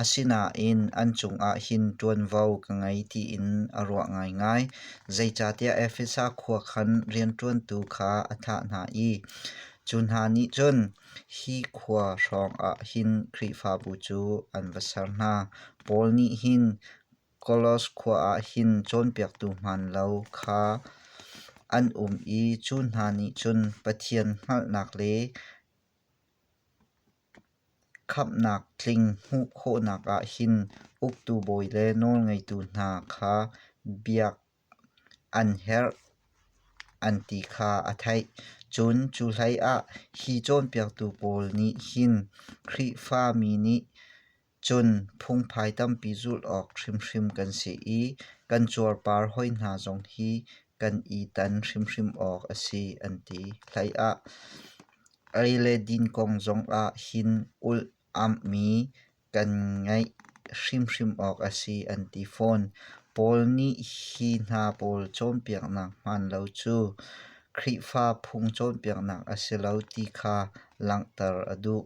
Asinain an cungah hin ṭuanvo ka ngei tiin a ruah ngaingai, zeicahtiah Efesa khua khan rianṭuantu kha a thah hna i cu hna nih cun hi khua hrawngah hin Khrihfabu cu an va ser hna. Paul nih hin Kolos khua ah hin cawnpiaktu hmaan lo kha an um i cu hna nih cun Pathian hngalhnak le Khamhnak tling hmuh khawhnak ah hin uktu bawi le nawlngeitu hna kha biak an herh an ti kha a theih. Cun cu hlei ah hi cawnpiaktu pawl nih hin Khrihfa mi nih Cun phungphai tampi zulh awk hrimhrim kan si i kan cuarpar hawi hna zong hi kan i tan hrimhrim awk a si an ti. Hleiah ei le din kong zongah hin ulh amhmi kan ngeih hrimhrim awk a si an ti fawn. Paul nih hi hna pawl cawnpiaknak hmaan lo cu Khrihfa phung cawnpiaknak a si lo ti kha langhter a duh.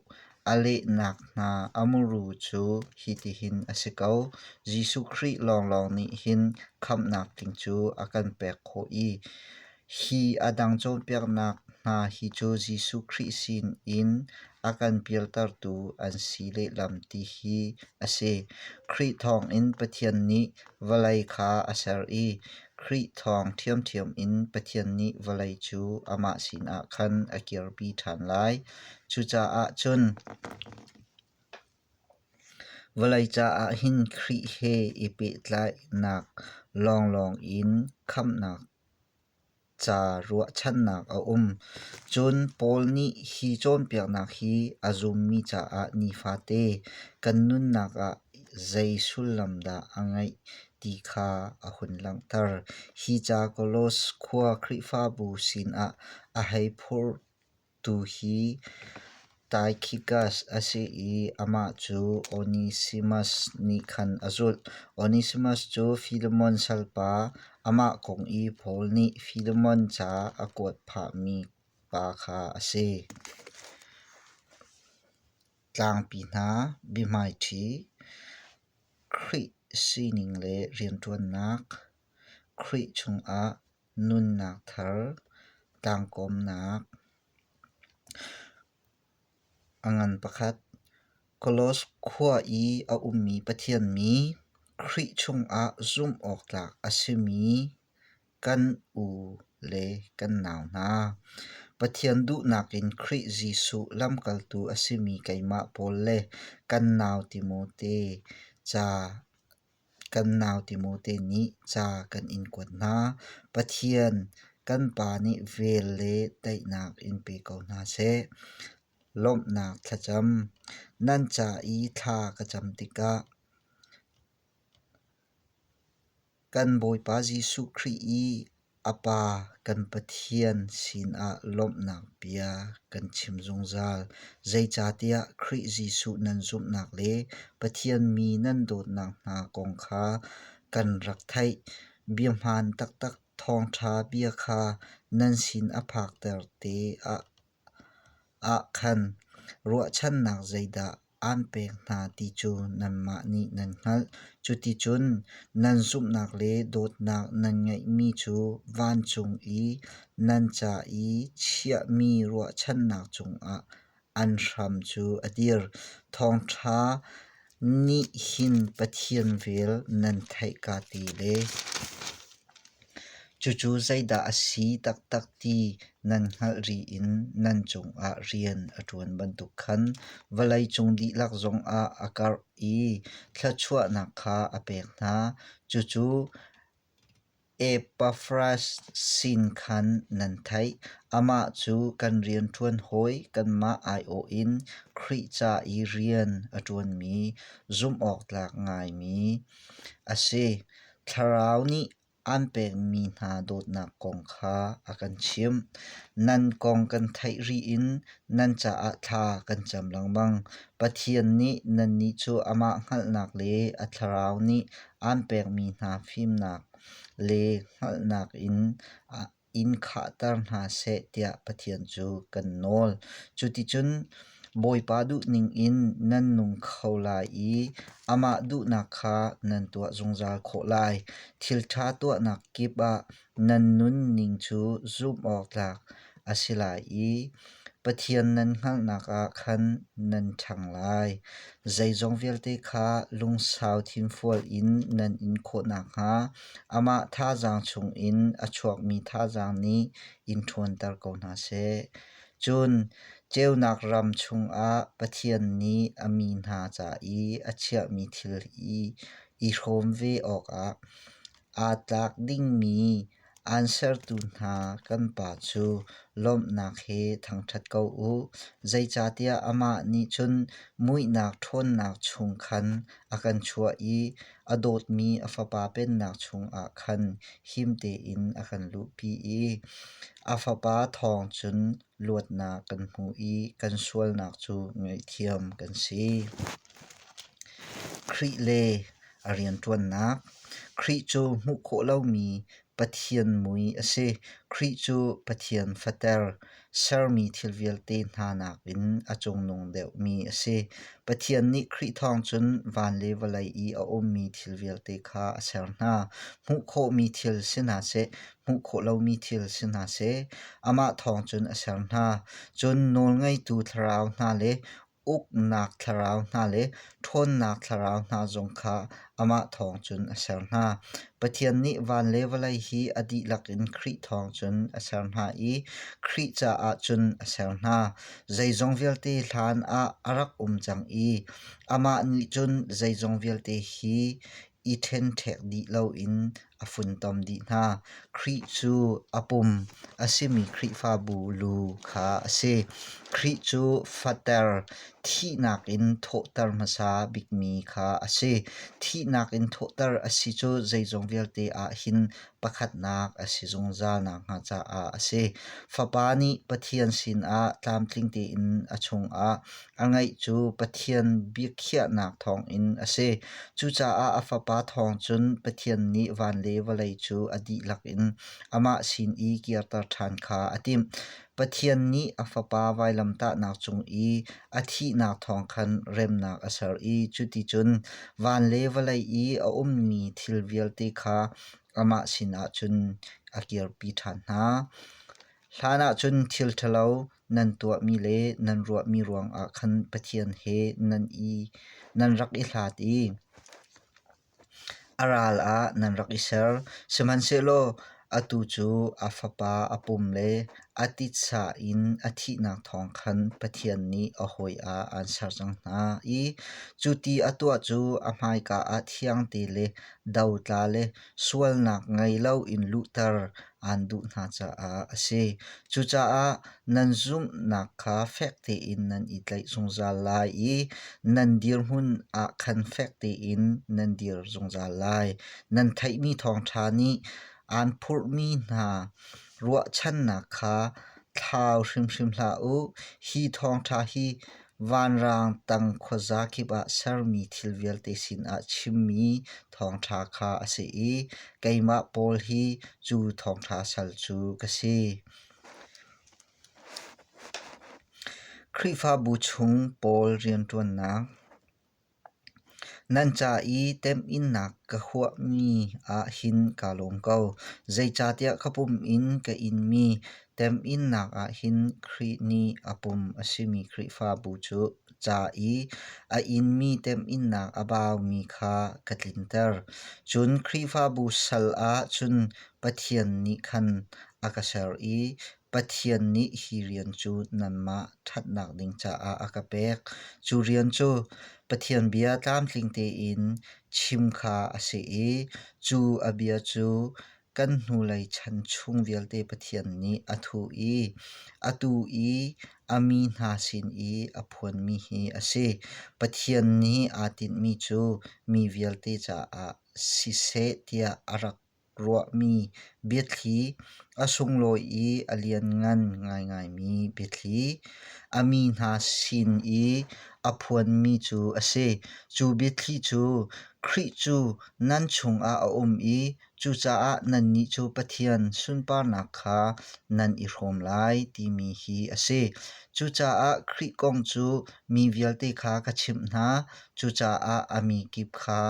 A lehnak hna a muru cu hitihin a si ko: Jesuh Khrih lawnglawng nih hin khamhnak tling cu a kan pek khawh i hi a dang cawnpiaknak hna hi cu Jesuh Khrih sinin a kan pialtertu an si lehlam ti hi a si. Khrih thawngin Pathian nih vawlei kha a ser i Khrih thawng ṭhiamṭhiam in Pathian nih vawlei cu amah sinah khan a kirpi ṭhan lai. Cucaah cun vawlei caah hin Khrih he i pehtlainak lawnglawng in khamhnak ca ruahchannak a um, cun Paul nih hi cawnpiaknak hi a zummi caah nifate kan nunnak ah zei sullam dah a ngeih ti kha a hun langhter. Hi ca Kolos khua Khrihfabu sinah a hei phurh. Tu hi Taikhikas a si i amah cu Onesimas nih khan a zulh. Onesimas cu Filemon salpa, amah kong i Paul nih Filemon ca a kuat phahmi pa kha a si. Tlangpi hna biahmaiṭhi, Khrih sining le rianṭuannak, Khrih chungah Nunnak thar, tlangkawmnak. A ngan pakhat. Koloss khua i a ummi Pathian mi, Khrih chungah zumhawktlak a simi kan u le kan nau hna. Pathian duhnak in Khrih Jesuh lamkaltu a simi keimah pawl le kan nau Timote ca Kan nau Timo te nih ca kan in kuat hna. Pathian kan pa nih vel le daihnak in pe ko hna seh. Lawmhnak thlacam. Nan ca i thla ka cam tikah kan Bawipa Jesuh Khrih i A Pa kan Pathian sinah lawmhnak bia kan chim zungzal, zeicahtiah Khrih Jesuh nan zumhnak le Pathian mi nan dawtnak hna kong kha kan rak theih. Biahmaan taktak thawngṭha bia kha nan sin a phakter te ah khan ruahchannak zeidah aan pek hna ti cu nanmah nih nan hngalh. Cuticun nan zumhnak le dawtnak nan ngeihmi cu vancung i nan ca i chiahmi ruahchannak cungah an hram cu a dir. Thawngṭha nih hin Pathian vel nan theih ka ti le. Cucu zeidah a si taktak ti nan hngalh rih in nan cungah rian a ṭuan bantuk khan vawleicung dihlak zongah a karh i thluachuahnak kha a pek hna. Cucu Epaffras sin khan nan theih, amah cu kan rianṭuan hawi kanmah aiawh in Khrih ca i rian a ṭuanmi zumhawktlak ngaimi a si. Thlarau nih aan pekmi hna dawtnak kong kha a kan chimh. Nan kong kan theih rih in nan caah thla kan cam lengmang. Pathian nih nannih cu amah hngalhnak le a thlarau nih aan pekmi hna fimnak le hngalhnak in in khahter hna seh tiah Pathian cu kan nawl. Cuticun Bawipa duhning in nan nung kho lai i amah duhnak kha nan tuah zungzal khawh lai. Thilṭha tuahnak kip ah nan nunning cu zumh awktlak a si lai i Pathian nan hngalhnak ah khan nan ṭhang lai. Zeizong vialte kha lungsau thinfual in nan in khawh nakhnga Amah thazaang chungin a chuakmi thazaang nih in ṭhawnter ko hna seh. Cun ceunak ram chungah Pathian nih a mi hna ca i a chiahmi thil i i hrawm ve awkah aa tlak dingmi aan sertu hna kan Pa cu lawmhnak he thangṭhat ko u, zeicahtiah amah nih cun muihnak ṭhawnnak chung khan a kan chuah i a dawtmi a fapa pennak chungah khan him tein a kan luhpi i a fapa thawng cun luatnak kan hmu i kan sualnak cu ngaihthiam kan si. Khrih le a rianṭuannak Khrih cu hmuh khawh lomi Pathian mui a si. Khrih cu Pathian fater, sermi thil vialte hna nakin a cungnung deuhmi a si. Pathian nih Khrih thawng cun van le vawlei i a ummi thil vialte kha a ser hna. Hmuh khawhmi thil si hna seh, hmuh khawh lomi thil si hna seh, amah thawng cun a ser hna. Cun nawlngeitu thlarau hna le uknak thlarau hna le ṭhawnnak thlarau hna zong kha amah thawng cun a ser hna. Pathian nih van le vawlei hi a dihlak in Khrih thawng cun a ser hna i Khrih caah cun a ser hna. Zeizong vialte hlan ah a rak um cang i amah nih cun zeizong vialte hi i ṭhenṭhek dih loin a funtom dih hna. Khrih cu a pum a simi Khrihfabu lu kha a si. Khrih cu fater, thihnak in thawhter hmasa bikmi kha a si. Thihnak in thawhter a si cu zeizong vialte ah hin pakhatnak a si zungzal nakhnga caah a si. Fapa nih Pathian sinah tlamtling tein a chungah A ngeih cu Pathian biakhiahnak thawngin a si. Cucaah a Fapa thawng cun Pathian nih van le vawlei cu a dihlak in amah sin i kirter ṭhan kha a timh. Pathian nih a Fapa vailamtahnak cung i a thihnak thawng khan remnak a ser i cuticun van le vawlei i a ummi thil vialte kha amah sinah cun a kirpi ṭhan hna. Hlan ahcun thil ṭhalo nan tuahmi le nan ruahmi ruangah khan Pathian he nan i nan rak i hlat i a ral ah nan rak i ser. Sihmanhsehlaw atu cu a Fapa a pum le a titsa in a thihnak thawng khan Pathian nih a hawi ah aan ser cang hna i cu ti a tuah cu a hmaika ah thiangte le dotla le sualnak ngei loin luhter aan duh hna caah a si. Cucaah nan zumhnak kha fek tein nan i tlaih zungzal lai i nan dirhmun ah khan fek tein nan dir zungzal lai. Nan theihmi thawngṭha nih aan phurhmi hna ruahchannak kha thlau hrimhrim hlah u. Hi thawngṭha hi Vanrang tang khuaza kip ah sermi thil vialte sinah chimmi thawngṭha kha a si i keimah Paul hi cu thawngṭha sal cu ka si. Khrihfabu chung Paul rianṭuannak Nan ca i temhinnak ka huahmi ah hin kaa lawm ko, zeicahtiah ka pum in ka inmi temhinnak ah hin Khrih nih a pum a simi Khrihfabu cu ca i a inmi temhinnak a baumi kha ka tlinter. Cun Khrihfabu sal ah cun Pathian nih khan a ka ser i Pathian nih hi rian cu nanmah ṭhatnak ding caah a ka pek. Cu rian cu Pathian bia tlamtling tein chim kha a si i cu a bia cu kan hnulei chan chung vialte Pathian nih a thuh i atu i a mi hna sin i a phuanmi hi a si. Pathian nih aa tinhmi cu mi vialte caah siseh tiah a rak ruahmi biathli, a sunglawi i a lianngan ngaingaimi biathli, a mi hna sin i a phuanmi cu a si. Cu biathli cu Khrih cu nan chungah a um i cucaah nannih cu Pathian sunparnak kha nan i hrawm lai timi hi a si. Cucaah Khrih kong cu mi vialte kha ka chimh hna, cucaah a mi kip kha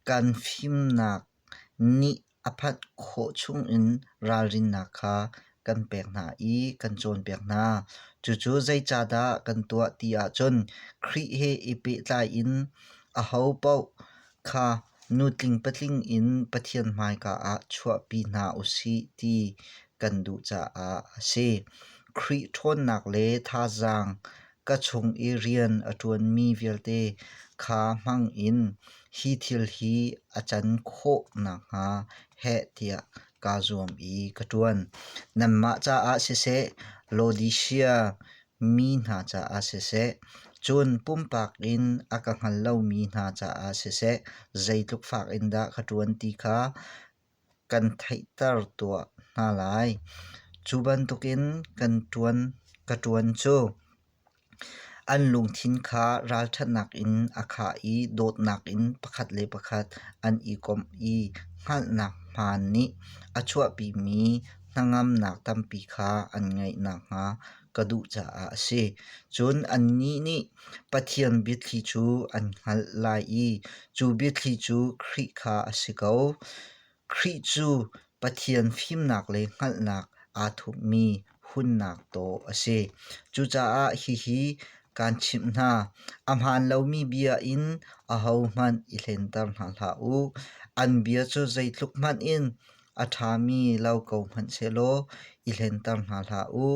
kan fimnak Nih a phanh khawh chungin ralrinnak kha kan pek hna i kan cawnpiak hna. Cucu zeicahdah kan tuah ti ahcun Khrih he i pehtlai in ahopaoh kha nu tling patling in Pathian hmaika ah chuahpi hna u sih ti kan duh caah a si. Khrih ṭhawnnak le thazaang ka chung i rian a ṭuanmi vialte kha hmangin hi thil hi a can khawh nakhnga heh tiah kaa zuam i ka ṭuan. Nanmah caah siseh, Laodisia mi hna caah siseh, cun pumpak in a ka hngal lomi hna caah siseh, zeitluk fak in dah ka ṭuan ti kha kan theihter tuah hna lai. Cu bantukin kan ṭuan ka ṭuan cu an lungthin kha ralṭhatnak in a khah i dawtnak in pakhat le pakhat an i komh i hngalhnak hmaan nih a chuahpimi hnangamnak tampi kha an ngeih nakhnga ka duh caah a si. Cun annih nih Pathian biathli cu an hngalh lai i cu biathli cu Khrih kha a si ko. Khrih cu Pathian fimnak le hngalhnak aa thupmi hunnak taw a si. Cucaah hihi kaan chimh hna, a hmaan lomi bia in ahohmanh i hlenter hna hlah u. An bia cu zeitluk hmanh in A ṭhami lo ko hmanhsehlaw i hlenter hna hlah u.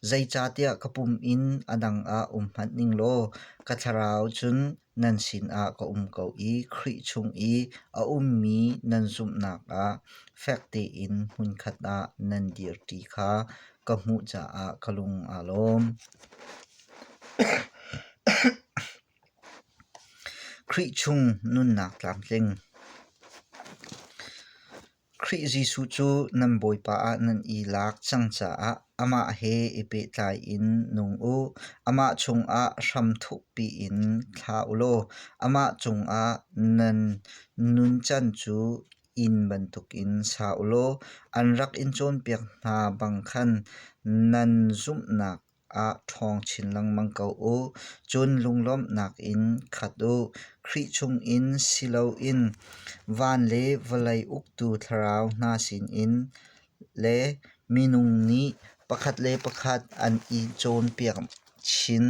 Zeicahtiah ka pum in a dang ah um hmanh ning law ka thlarau cun nan sinah ka um ko i Khrih chung i a ummi nan zumhnak ah fek tein hmunkhat ah nan dirṭi kha ka hmuh caah ka lung aa lawm. Khrih chung nunnak tlamtling. Khrih Jesuh cu nan Bawipa ah nan i lak cang caah amah he i pehtlai in nung u. Amah chungah hram thukpi in thla u law amah cungah nan nuncan cu inn bantukin sa u law an rak in cawnpiak hna bang khan nan zumhnak ah ṭhawng chin lengmang ko u. Cun lunglawmhnak in khat u. Khrih chungin si loin van le vawlei uktu thlarau hna sinin le minung nih pakhat le pakhat an i cawnpiak chin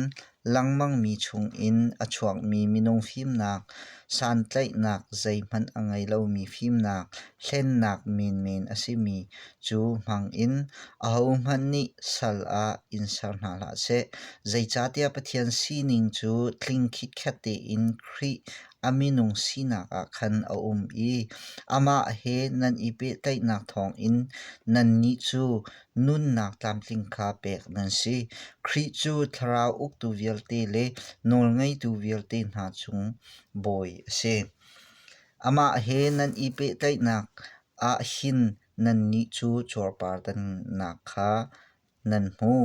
lengmangmi chungin a chuakmi minung fimnak, santlaihnak zeihmanh a ngei lomi fimnak, hlennak menmen a simi cu hmangin ahohmanh nih sal ah in ser hna hlah seh. Zeicahtiah Pathian sining cu tling khitkhet tein Khrih a minung sinak ah khan a um i amah he nan i pehtlaihnak thawngin nannih cu nunnak tlamtling kha pek nan si. Khrih cu thlarau uktu vialte le nawlngeitu vialte hna cung bawi a si. Amah he nan i pehtlaihnak ah hin nannih cu cuarpartannak kha nan hmu.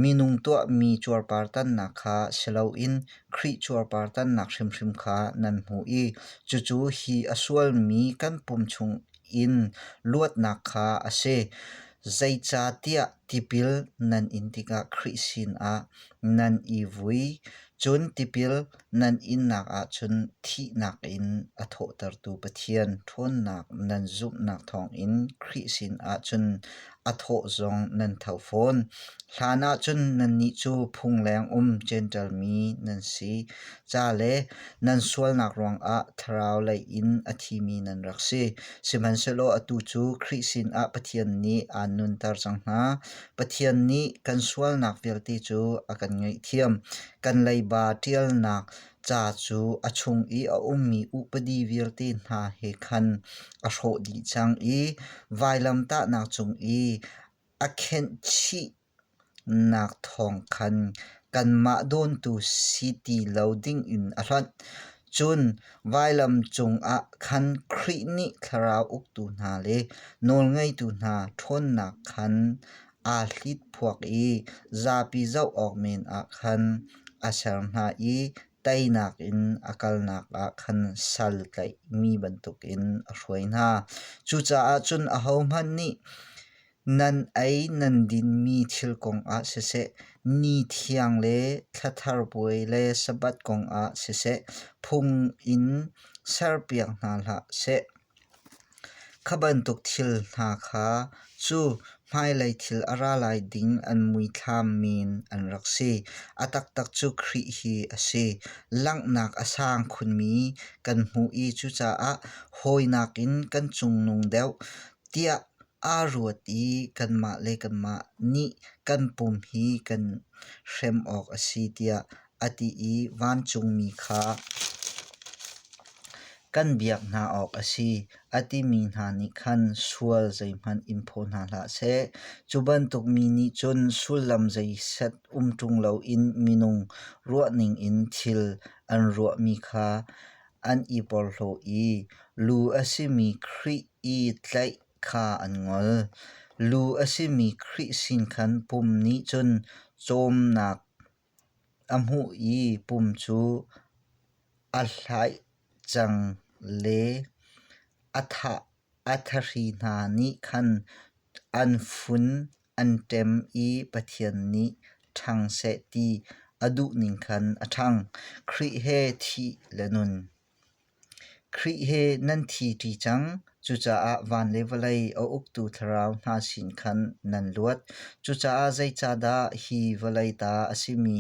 Minung tuahmi cuarpartannak kha si loin Khrih cuarpartannak hrimhrim kha nan hmu i cucu hi a sualmi kan pum chung in luatnak kha a si. Zeicahtiah tipil nan in tikah Khrih sinah nan i vui. Cun tipil nan innak ahcun thihnak in a thawhtertu Pathian ṭhawnnak nan zumhnak thawngin Khrih sinah cun a thawh zong nan tho fawn. Hlanah cun nannih cu phungleng um Jentail mi nan si ca le nan sualnak ruangah thlarau lei in a thimi nan rak si. Sihmanhsehlaw atu cu Khrih sinah Pathian nih aan nunter cang hna. Pathian nih kan sualnak vialte cu a kan ngaihthiam. Kan leiba ṭialnak ca cu a chung i a ummi upadi vialte hna he khan a hrawh dih cang i vailamtahnak cung i a khenhchihnak thawng khan kanmah dawntu si ti lo dingin a hlanh. Cun vailam cungah khan Khrih nih thlarau uktu hna le nawlngeitu hna ṭhawnnak khan aa hlit phuak i zapi zoh awk men ah khan a ser hna i teinak in a kalnak ah khan sal tlaihmi bantukin a hruai hna. Cucaah cun ahohmanh nih nan ei nan dinmi thil kongah siseh, ni thiang le thla thar puai le Sabbath kongah siseh phung in serpiak hna hlah seh. Kha bantuk thil hna kha cu hmailei thil a ra lai ding an muithlam men an rak si. A taktak cu Khrih hi a si. Langhnak a sang khunmi kan hmuh i cucaah hawinak in kan cungnung deuh tiah aa ruat i kanmah le kanmah nih kan pum hi kan hrem awk a si tiah a ti i vancungmi kha, Kan biak hna awk a si, a timi hna nih khan sual zeihmanh in phaw hna hlah seh. Cu bantuk mi nih cun sullam zei set um ṭung loin minung ruahning in thil an ruahmi kha an i porhlaw i lu a simi Khrih i tlaih kha an ngol. Lu a simi Khrih sin khan pum nih cun cawmnak A hmuh i pum cu a hlaih cang le a thahri hna nih khan an fun an ṭem i Pathian nih ṭhang seh ti a duh ning khan a ṭhang. Khrih he thih le nun. Khrih he nan thiṭi cang, cucaah van le vawlei a uktu thlarau hna sin khan nan luat. Cucaah zeicahdah hi vawlei ta a simi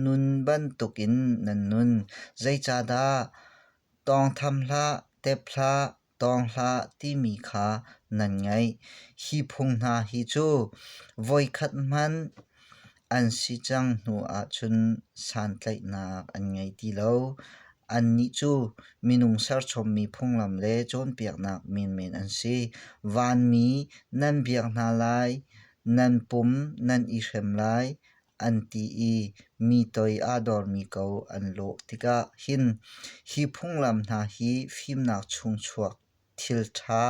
nun bantukin nan nun? Zeicahdah tawngtham hlah, tep hlah, Tawng hlah timi kha nan ngaih. Hi phung hna hi cu voikhat hmanh an si cang hnu ahcun santlaihnak an ngei ti lo. Annih cu minung serchommi phunglam le cawnpiaknak menmen an si. Vanmi nan biak hna lai, nan pum nan i hrem lai, an ti i mi toi aa dormi ko an lawh tikah hin hi phunglam hna hi fimnak chung chuak thilṭha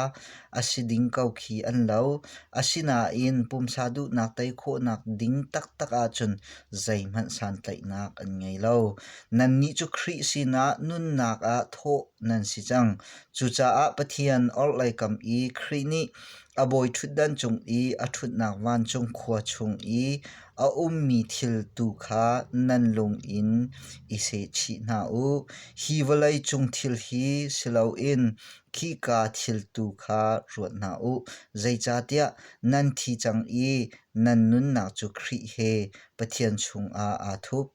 a si ding ko khi an lo. Asinain pumsa duhnak tei khawhnak ding taktak ahcun zeihmanh santlaihnak an ngei lo. Nannih cu Khrih sinah nunnak ah thawh nan si cang. Cucaah Pathian orhlei kam i Khrih nih A bawiṭhutdan cung i a ṭhutnak vancung khua chung i a ummi thil tu kha nan lung in i sehchih hna u. Hi vawlei cung thil hi si loin khika thil tu kha ruat hna u, zeicahtiah nan thi cang i nan nunnak cu Khrih he Pathian chungah aa thup.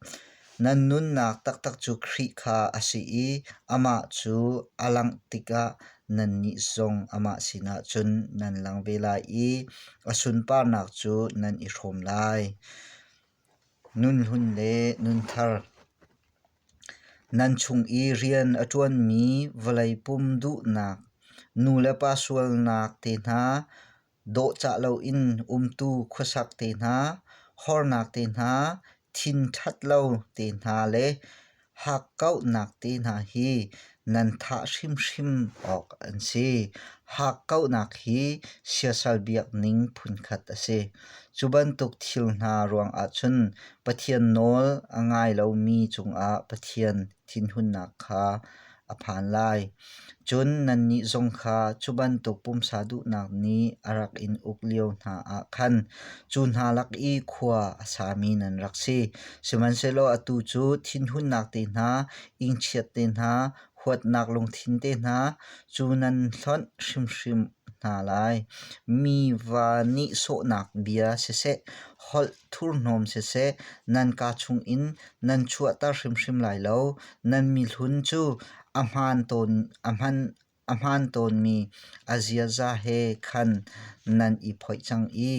Nan nunnak taktak cu Khrih kha a si i amah cu a langh tikah nannih zong amah sinah cun nan lang ve lai i a sunparnak cu nan i hrawm lai. Nun hlun le nun thar Nan chung i rian a ṭuanmi vawlei pum duhnak, nu le pa sualnak te hna, dawhcah loin umtu khuasak te hna, hornak te hna, thin ṭhat lo te hna le hakkauhnak te hna hi nan thah hrimhrim awk an si. Hakkauhnak hi siasal biakning phunkhat a si. Cu bantuk thil hna ruangah cun Pathian nawl a ngai lomi cungah Pathian thinhunnak kha a phan lai. Cun nannih zong kha cu bantuk pumsa duhnak nih a rak in uk lio hna ah khan cu hna lak i khua a sami nan rak si. Sihmanhsehlaw atu cu thinhunnak te hna, ingchiat te hna, huatnak lungthin te hna cu nan hlonh hrimhrim hna lai. Mi va nih sawhnak bia siseh, holh thurhnawm siseh nan ka chungin nan chuahter hrimhrim lai lo. Nan mihlun cu a hmaan tawnmi a ziaza he khan nan i phoih cang i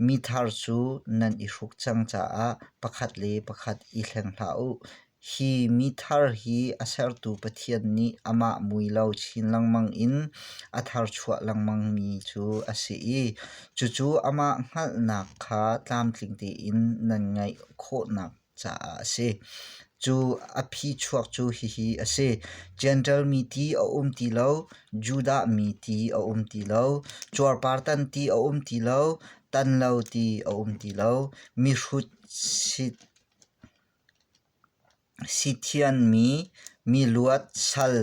mi thar cu nan i hruk cang caah pakhat le pakhat i thleng hlah u. Hi mithar hi a sertu Pathian nih amah mui lo chin lengmang in a tharchuah lengmang mi cu a si i cucu amah hngalhnak kha tlamtling tein nan ngaih khawhnak caah a si. Cu a phichuak cu hihi a si: Jentail mi ti a um ti lo, Judah mi ti a um ti lo, cuarpartan ti a um ti lo, tan lo ti a um ti lo, mihrut sit Sithianmi miluat sal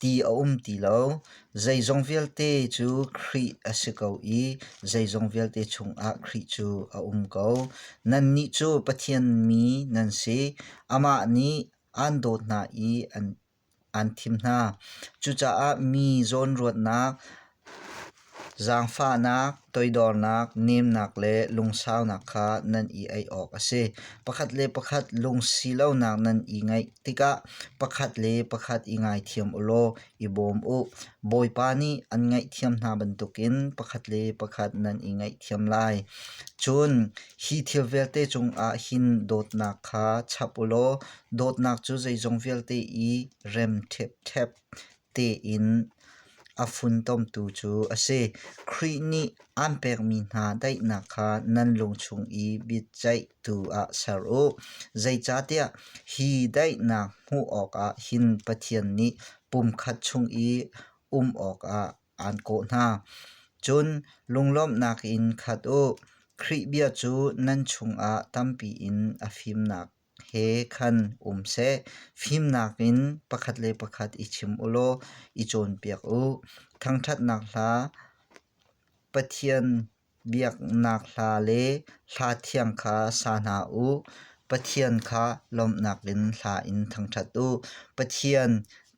ti a um ti lo. Zeizong vialte cu Khrih a si ko i zeizong vialte chungah Khrih cu a um ko. Nannih cu Pathian mi nan si. Amah nih aan dawt hna i an an thim hna. Cucaah mi zawnruatnak, zaangfahnak, toidornak, nemnak le lungsaunak kha nan i ei awk a si. Pakhat le pakhat lungsi lonak nan i ngeih tikah pakhat le pakhat i ngaithiam u law i bawm u. Bawipa nih an ngaihthiam hna bantukin pakhat le pakhat nan i ngaihthiam lai. Cun hi thil vialte cungah hin dawtnak kha chap u law Dawtnak cu zeizong vialte i rem ṭhepṭhep tein a funtomtu cu a si. Khrih nih aan pekmi hna daihnak kha nan lung chung i biaceihtu ah ser u. Zeicahtiah hi daihnak hmuh awkah hin Pathian nih pumkhat chung i um awkah aan kawh hna. Cun lunglawmhnak in khat u. Khrih bia cu nan chungah tampi in a fimnak he khan um seh. Fimnak in pakhat le pakhat i chim u law i cawnpiak u. Thangṭhatnak hla, Pathian biaknak hla le hla thiang kha sa hna u. Pathian kha lawmhnak in hla in thangṭhat u. Pathian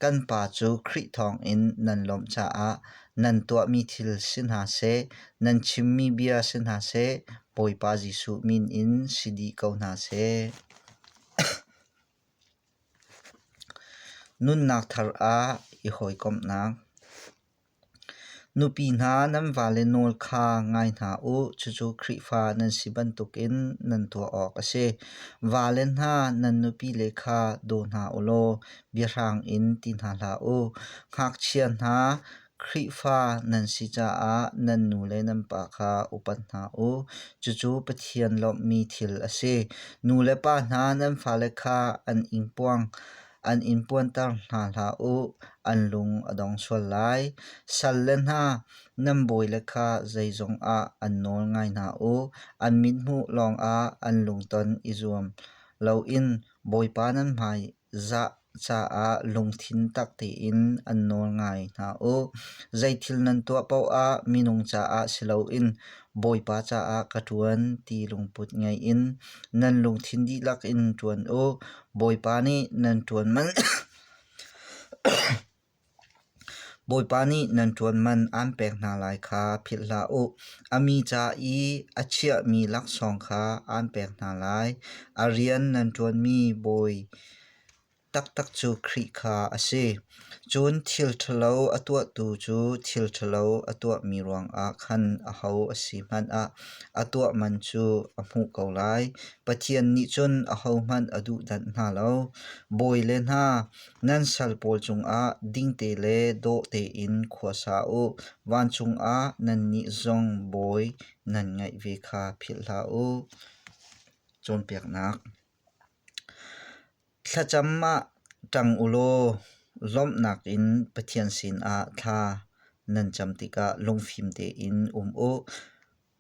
Kan pa cu Khrih thawngin nan lawmh caah nan tuahmi thil si hna seh, nan chimmi bia si hna seh, Bawipa Jesuh min in si dih ko hna seh. Nunnak thar ah i hawikomhnak. Nupi hna nan vale nawl kha ngai hna u, cucu Khrihfa nan si bantukin nan tuah awk a si. Vale hna nan nupile kha daw hna u law biahrang in ti hna hlah u. Ngakchia hna, Khrihfa nan si caah nan nu le nan pa kha upat hna u, cucu Pathian lawmhmi thil a si. Nu le pa hna nan fale kha an ing puang. an in puanter hna hlah u, an lung a dong sual lai. Sal le hna, nan bawile kha zeizong ah an nawl ngai hna u, an mithmuh lawngah an lungton i zuam loin Bawipa nan hmai zah caah lungthin tak tein an nawl ngai hna u. Zeithil nan tuah paohah minung caah si loin Bawipa caah ka ṭuan ti lungput ngei in nan lungthin dihlak in ṭuan u. Bawipa nih nan ṭuan man, Bawipa nih nan ṭuan man aan pek hna lai kha philh hlah u. A mi ca i a chiahmi laksawng kha aan pek hna lai. A rian nan ṭuanmi bawi taktak cu Khrih kha a si. Cun thil ṭhalo a tuahtu cu thil ṭhalo a tuahmi ruangah khan aho a si hmanh ah a tuah man cu a hmuh ko lai. Pathian nih cun ahohmanh a duhdanh hna lo. Bawi le hna, nan sal pawl cungah dingte le dawh tein khuasa u; vancung ah nannih zong bawi nan ngeih ve kha philhhlah u. Cawnpiaknak Thlacam ah ṭang u law lawmhnak in Pathian sinah thla nan cam tikah lungfim tein um u.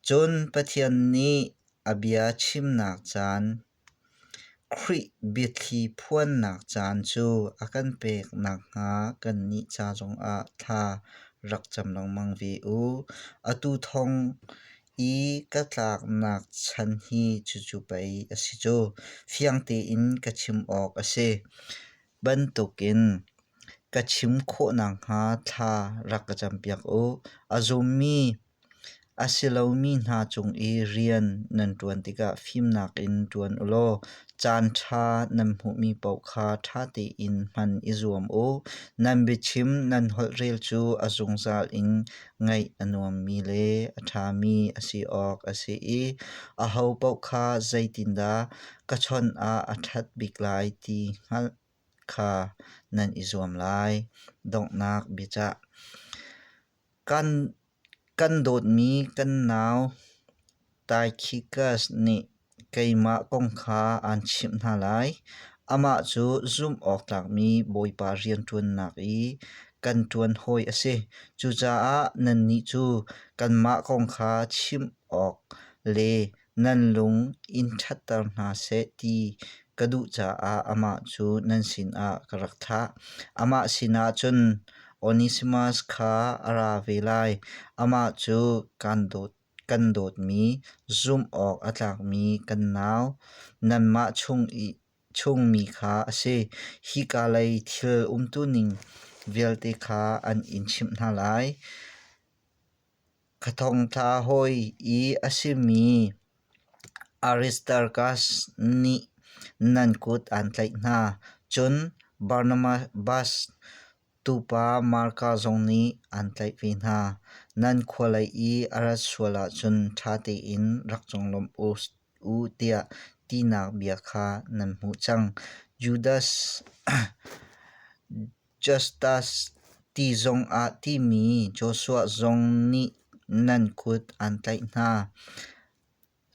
Cun Pathian nih a bia chimnak caan, Khrih biathli phuannak caan cu a kan pek nakhnga kannih ca zongah thla rak cam lengmang ve u. Atu thawng i ka tlaknak chan hi cucu pei a si cu fiang tein ka chim awk a si bantukin ka chim khawh nakhnga thla rak ka campiak u a zummi a si lomi hna cung i rian nan ṭuan tikah fimnak in ṭuan u law caanṭha nan hmuhmi paoh kha ṭha tein hman i zuam u nan biachim nan holhrel cu a zungzal in ngeih a nuammi le a ṭhami a si awk a si i aho paoh kha zeitindah ka chawnh ah a ṭhat bik lai ti hngalh kha nan i zuam lai. Donghnak biacah kan, kan dawtmi kan nau Taikhikas nih keimah kong kha aan chimh hna lai. Amah cu zumhawktlakmi Bawipa rianṭuannak i kan ṭuan hawi a si. Cucaah nannih cu kanmah kong kha chim awk le nan lung in ṭhatter hna seh ti ka duh caah amah cu nan sinah ka rak thah. Amah sinah cun Onesimas kha a ra ve lai. Amah cu kaan dawt. kan dawtmi, zumh awk a tlakmi kan nau, nanmah chung i chungmi kha a si. Hika lei thil umtuning vialte kha an in chimh hna lai. Ka thongtla hawi i a simi Aristarkas nih nan kut aan tlaih hna, cun Barnabas Tuupa Marka zong nih an tlaih ve hna, nan khua lei i a rat sual ahcun ṭha tein rak conglawmh u tiah tinak bia kha nan hmuh cang. Judas Justas ti zongah timi Joshua zong nih nan kut an tlaih hna.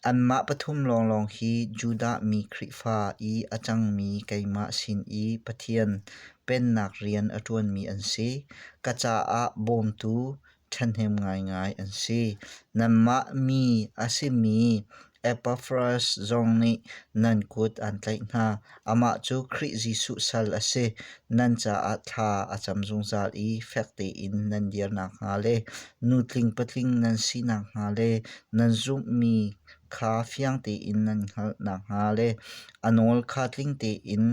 Anmah pathum lawnglawng hi Judah mi Khrihfa i a cangmi keimah sin i Pathian pennak rian a ṭuanmi an si. Ka caah bawmtu ṭhahnem ngaingai an si. Nanmah mi a simi Epaffras zong nih nan kut aan tlaih hna. Amah cu Khrih Jesuh sal a si, nan caah thla a cam zungzal i fek tein nan dir nakhnga le nu tling patling nan si nakhnga le nan zumhmi kha fiang tein nan hngalh nakhnga le a nawl kha tling tein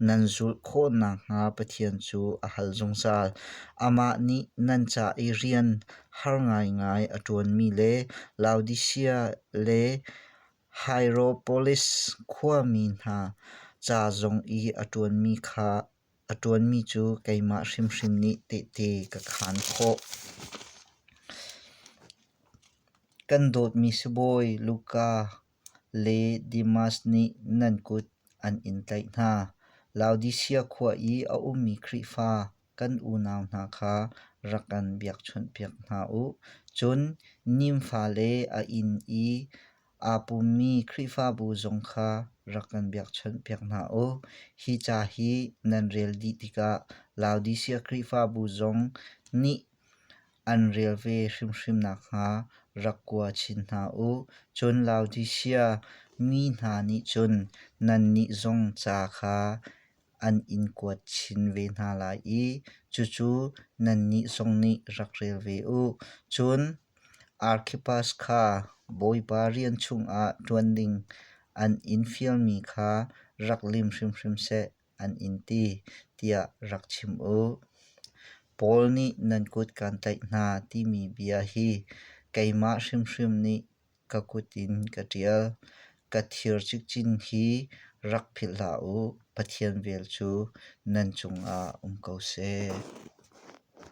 nan zulh khawh nakhnga Pathian cu a hal zungzal. Amah nih nan ca i rian har ngaingai a ṭuanmi le Laodisia le Hierapolis khuami hna ca zong i a ṭuanmi cu keimah hrimhrim nih tehte ka khaan khawh. Kan dawtmi sibawi Luka le Demas nih nan kut an in tlaih hna. Laodisia khua i a ummi Khrihfa kan unau hna kha rak kan biakchawnhpiak hna u. Cun nimfa le a inn i aa pummi Khrihfabu zong kha rak kan biakchawnhpiak hna u. Hi ca hi nan rel dih tikah Laodisia Khrihfabu zong nih an rel ve hrimhrim nakhnga rak kua chin hna u. Cun Laodisia mi hna nih cun nannih zong ca kha an in kuat chin ve hna lai i cucu nannih zong nih rak rel ve u. Cun Arkhippas kha Bawipa rian chungah ṭuan ding an in fialmi kha rak lim hrimhrim seh, an in ti, tiah rak chim u. Paul nih nan kut kaan tlaih hna timi bia hi keimah hrimhrim nih ka kut in ka ṭial. Ka thir cikcin hi rak philh hlah u, Pathian vel cu nan cungah um ko seh.